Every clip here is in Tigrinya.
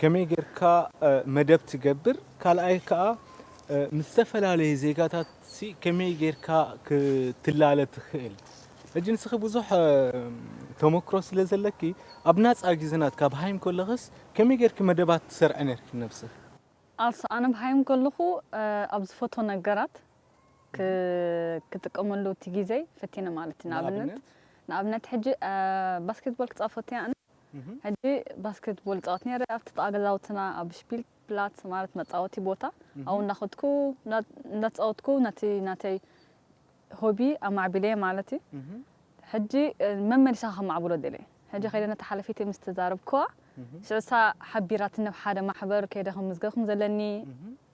ከመይ ጌርካ መደብ ትገብር፣ ካልኣይ ከኣ ምስ ዝተፈላለየ ዜጋታትሲ ከመይ ጌርካ ክትላለ ትኽእል፣ ሕጂ ንስኺ ብዙሕ ተሞክሮ ስለ ዘለኪ ኣብ ናጻ ግዜናት ካብ ሃይም ከለኽስ ከመይ ጌርኪ መደባት ትሰርዒ ኔርኪ ንነብስኺ? ኣልሳ፣ ኣነ ኣብ ሃይም ከለኹ ኣብ ዝፈትዎ ነገራት ክጥቀመሉ እቲ ግዜይ ፈቲነ ማለት እዩ፣ ንኣብነት ንኣብነት ሕጂ ባስኬትቦል ክጻወት ፈትያ ኣነ፣ ሕጂ ባስኬትቦል እጻወት ነይረ፣ ኣብቲ ጥቓ ገዛውትና ኣብ ስፒልፕላትስ ማለት መጻወቲ ቦታ ኣብኡ እንዳኸድኩ እንዳተጻወትኩ ነቲ ናተይ ሆቢ ኣማዕቢለዮ ማለት እዩ። ሕጂ መመሊሰኻ ከማዕብሎ ደልየ። ሕጂ ከይደ ነታ ሓለፊተይ ምስ ተዛረብኩዋ ሽዑ ንሳ ሓቢራትኒ ኣብ ሓደ ማሕበር ከይደ ክምዝገብ ከም ዘለኒ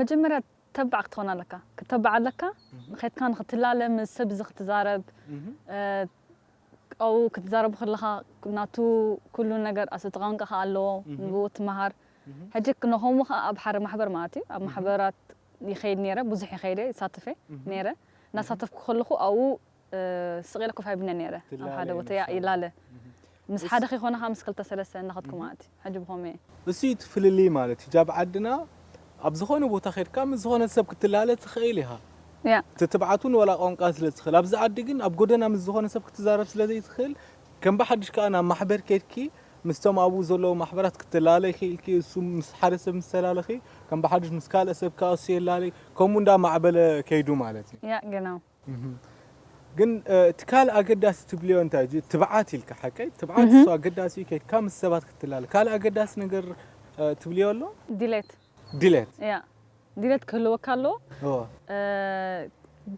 መጀመርያ ተባዕ ክትኾን ኣለካ ክትተባዕ ኣለካ ንከድካ ንክትላለ ምስ ሰብ እዚ ክትዛረብ ኣብኡ ክትዛረቡ ከለካ ናቱ ኩሉ ነገር ኣሰቲ ቋንቃ ከኣ ኣለዎ ንብኡ ትማሃር ሕጂ ንከምኡ ከኣ ኣብ ሓደ ማሕበር ማለት እዩ ኣብ ማሕበራት ይከይድ ነይረ ብዙሕ ይከይድ እየ ይሳተፍ እየ ነይረ እናሳተፍኩ ከለኩ ኣብኡ ስቕ ኢለ ኮፍ ኣይብልን'የ ነይረ፣ ኣብ ትላለ ሓደ ቦታ ያእ ይመስላሉ። ይላለ። ምስ ሓደ ከይኮነ ከኣ ምስ ክልተ ሰለስተ እናኸድኩ ማለት እዩ። ሕጂ ብኸመይ'የ? እሱ'ዩ እቲ ፍልልይ ማለት እዩ። ኣብ ዓድና ኣብ ዝኾነ ቦታ ኬድካ ምስ ዝኾነ ሰብ ክትላለ ትኽእል ኢኻ። ያእ። እቲ ትብዓት'ውን ዋላ ቋንቋ ስለ ትኽእል። ኣብዚ ዓዲ ግን ኣብ ጎደና ምስ ዝኾነ ሰብ ክትዛረብ ስለ ዘይትኽእል፣ ከም ብሓድሽ ከኣ ናብ ማሕበር ኬድኪ ምስቶም ኣብኡ ዘለዉ ማሕበራት ክትላለይ ክኢልኪ፣ እሱ ምስ ሓደ ሰብ ምስ ተላለኺ ከም ብሓድሽ ምስ ካልእ ሰብ ከኣ እሱ የላልይ፣ ከምኡ እንዳማዕበለ ከይዱ ማለት እዩ። ያእ ገናው። ግን እቲ ካልእ ኣገዳሲ ትብልዮ እንታይ እዩ? ትብዓት ኢልካ ሓቀይ ትብዓት እሱ ኣገዳሲ እዩ ከይድካ ምስ ሰባት ክትላለ። ካልእ ኣገዳሲ ነገር ትብልዮ ኣሎ? ድሌት። ድሌት። እያ ድሌት ክህልወካ ኣለዎ።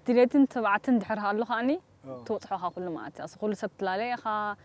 ድሌትን ትብዓትን ድሕር ሃሉ ከኣኒ ትበጽሖ ኢኻ ኩሉ መኣልቲ። ኣስኹ ኩሉ ሰብ ትላለ ኢኻ፣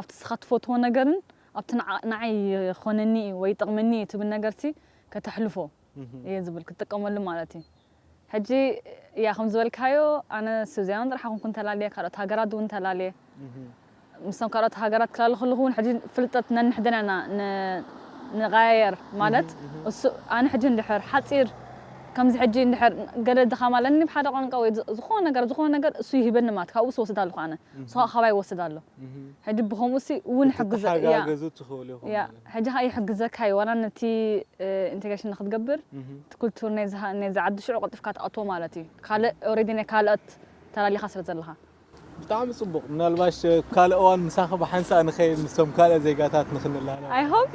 ኣብቲ ንስኻ ትፈትዎ ነገርን ኣብቲ ንዓይ ይኾነኒ እዩ ወይ ይጠቕመኒ እዩ ትብል ነገርሲ ከተሕልፎ እየ ዝብል፣ ክትጥቀመሉ ማለት እዩ። ሕጂ ያእ ከም ዝበልካዮ ኣነ ስዊዘርላንድ ጥራሕ ኣይኮንኩን እንተላልየ ካልኦት ሃገራት እውን ተላልየ ምስቶም ካልኦት ሃገራት ክላለ ከለኹ እውን ሕጂ ፍልጠት ነንሕድና ኢና ንቐያየር ማለት እሱ ኣነ ሕጂ እንድሕር ሓጺር ከምዚ ሕጂ እንድሕር ገለ ድኻም ኣለኒ ብሓደ ቋንቋ ወይ ዝኾነ ነገር ዝኾነ ነገር እሱ ይህበኒ ማለት ካብኡ ስወስድ ኣለኹ ኣነ እሱ ካባይ ይወስድ ኣሎ ሕጂ ብከምኡሲ ውን ይሕግዞ ኢያ ክትተሓጋገዙ ትክእሉ ኢኩም ኢያ ማለት ሕጂ ከኣ ይሕግዘካ ኢዩ ዋላ ነቲ ኢንተግሬሽን ንክትገብር እቲ ኩልቱር ናይዚ ናይዚ ዓዲ ሽዑ ቀልጢፍካ ትኣትዎ ማለት ኢዩ ካልእ ኦሬዲ ናይ ካልኦት ተላሊካ ስለ ዘለካ። ብጣዕሚ ጽቡቅ ምናልባሽ ኣብ ካልእ እዋን ምሳኺ ብሓንሳእ ንኸይድ ምስቶም ካልኦት ዜጋታት ንኽንላለ። I hope።